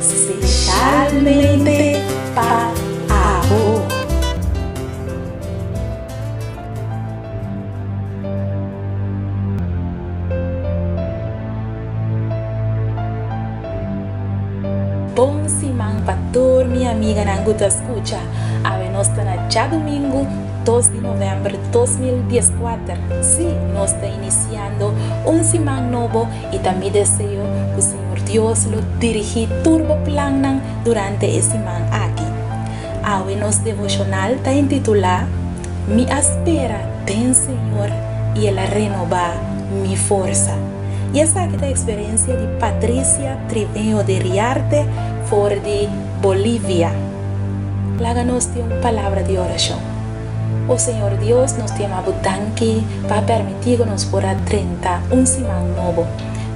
Speshalmente pa abo. Bon siman pa tur mi amiganan cu ta scucha. Awe nos ta na djadomingo dos di november dos mil dieskuater. Sí, nos ta iniciando un siman nobo I ta mi deseo ku Señor Dios lo dirigí tur bo plannan durante e siman aki. Awe nos devoshonal ta intitulá Mi a spera den Señor i el a renobá mi forsa. I esaki ta eksperensia di Patricia Triveño de Riarte for di Bolivia. Laga nos tin un palabra di orashon. O Señor Dios, nos ta yama Bo danki pa a permití ku nos por a drenta un siman nobo.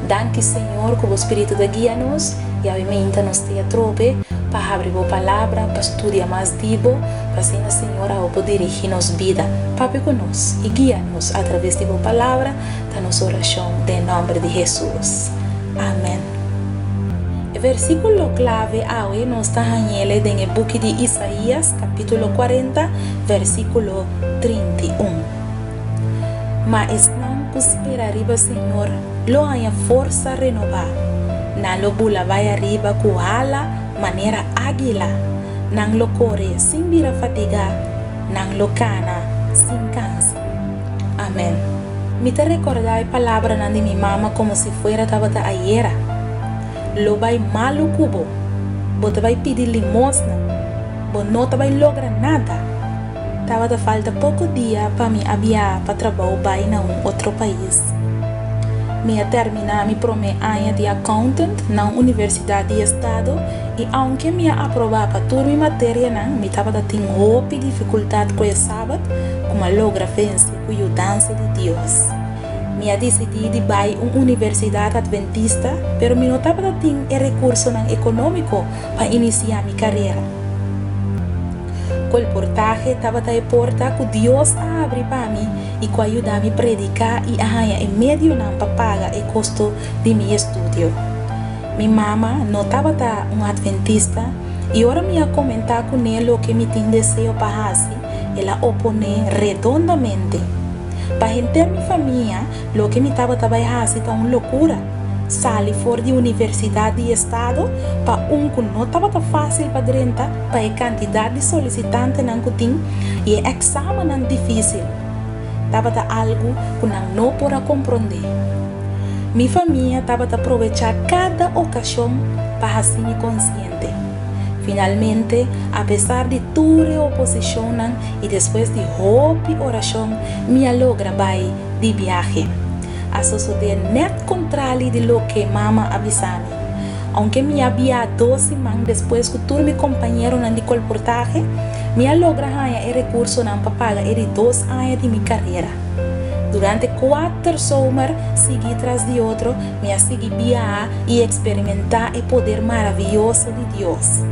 Danki, Señor, ku Bo Spiritu ta guia nos, yawe minta nos ta e atrobe pa habri Bo Palabra, pa studia mas di Bo, pa asina, Señor, awe por dirigí nos bida. Papia ku nos i guia nos atraves di Bo Palabra, ta nos orashon den e nòmber di Hesus. Amen. E versíkulo klave awe nos ta hañ'el den e buki di Isaías. capítulo cuarenta, versículo trinta i un. Ma esnan cu spera riba Señor lo haña forsa renobá, nan lo bula bai ariba cu hala manera águila, nan lo core sin bira fatigá, nan lo cana sin cansa. Amén. Mi ta recordá e palabranan di mi mama como si fuera tabata ayera. Lo bai malu ku bo. Bo ta bai pidi limosna. Bo no ta bai logra nada. Tabata falta poko dia pa mi a biaha pa trabou bai na un otro pais. Mi a terminá mi promé aña di accountant na un universidat di estado i ounke mi a aprobá pa tur mi materianan mi tabata tin hopi difikultat ku e sabat ku mi a logra vense ku yudansa di Dios. Mi a disidí di bai un universidat adventista, pero mi no tabata tin e rekursonan ekonómiko pa inisiá mi karera. Ku el portahe tabata e porta ku Dios a abri pa mi i ku a yuda mi prediká i a haña e medionan pa paga e kosto di mi estudio. Mi mama no tabata un adventista, i ora mi a komentá kuné loke mi tin deseo pa hasi, el a oponé redondamente. Pa henter mi famia, loke mi tabata bai hasi ta un lokura, sali for di universidat di e estado pa un ku no tabata fásil pa drenta pa e kantidat di solisitantenan ku tin i e eksámennan difísil tabata algu ku nan no por a komprondé. Mi famia tabata probechá kada okashon pa hasi mi konsiente. Presidente. Finalmente, apesar di tur e oposicionnan y despues di hopi oracion, mi a logra bay di biahe. A sosode net contrali di loke mama a bisa mi. Aunke mi a bia dos siman despues cu tur mi compañeronan di colportahe, mi a logra haya e recursonan pa paga e di dos aña di mi carera. Durante cuater zomer sigui tras di otro, Mi a sigui biaha i eksperimentá e poder maravioso di Dios.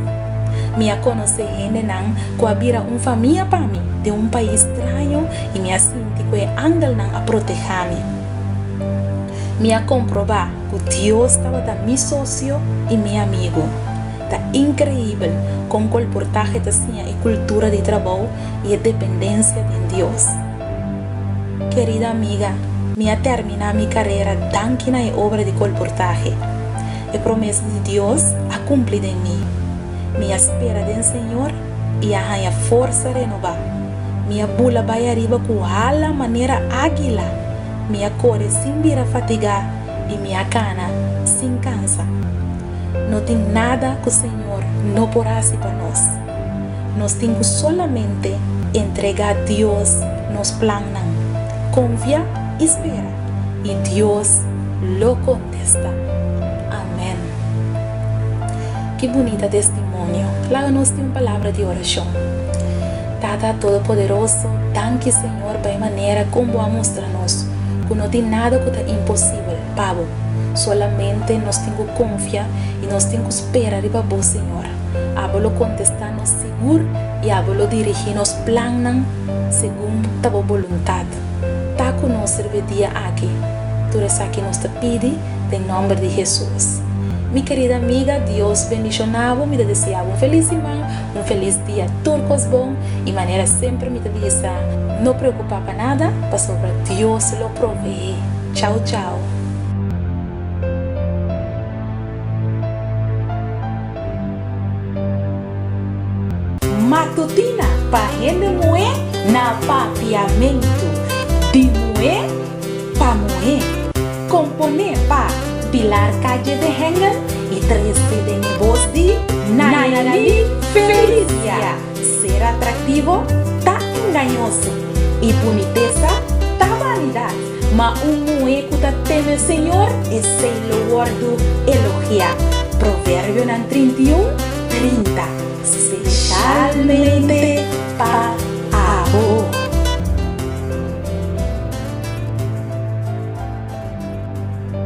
Mi a konosé hendenan ku a bira un famia pa mi den un pais straño i mi a sinti ku e angelnan a protehá mi. Mi a komprobá ku Dios tabata mi sosio i mi amigu. Ta inkreibel kon kolportahe ta siña e kultura di trabou i e dependensia den Dios. Kerida amiga, mi a terminá mi karera danki na e obra di kolportahe. E promes di Dios a kumpli den mi. Mi a spera den Señor i a haña forsa renobá. Mi a bula bai ariba ku hala manera ágila, mi a kore sin bira fatigá i mi a kana sin kansa. No tin nada ku Señor no por hasi pa nos. Nos tin cu solamente entrega Dios nos plannan, confia y spera, y Dios lo contesta. Amen. Ki bunita testimonio! Laga nos tin un palabra di oracion. Tata Todopoderoso, danki Señor pa e manera con Bo a mustra nos cu no tin nada cu ta imposibel pa Bo. Solamente nos tin cu confia y nos tin cu spera riba Bo, Señor. Abo lo kontestá nos sigur i abo lo dirigí nos plannan segun ta bo boluntat. Ta ku nos serbi dia aki. Tur esaki nos ta pidi den nòmber di Hesus. Mi kerida amiga, Dios bendishoná bo. Mi ta deseá bo un felis siman, un felis dia. Tur kos bon i manera semper mi ta bisa, no preokupá pa nada, pasobra Dios lo proveé. Chau chau. Matutina pa hende muhé na Papiamentu di muhé pa muhé Komponé pa Pilar Calle de Hengel y tres di den e bos di Nayalin Felicia. Ser atraktivo ta engañoso, i bunitesa ta vanidat, ma un muhé ku ta teme Señor, esei lo wòrdu elogiá. Proverbionan trinta i un, trinta, spesialmente pa abo.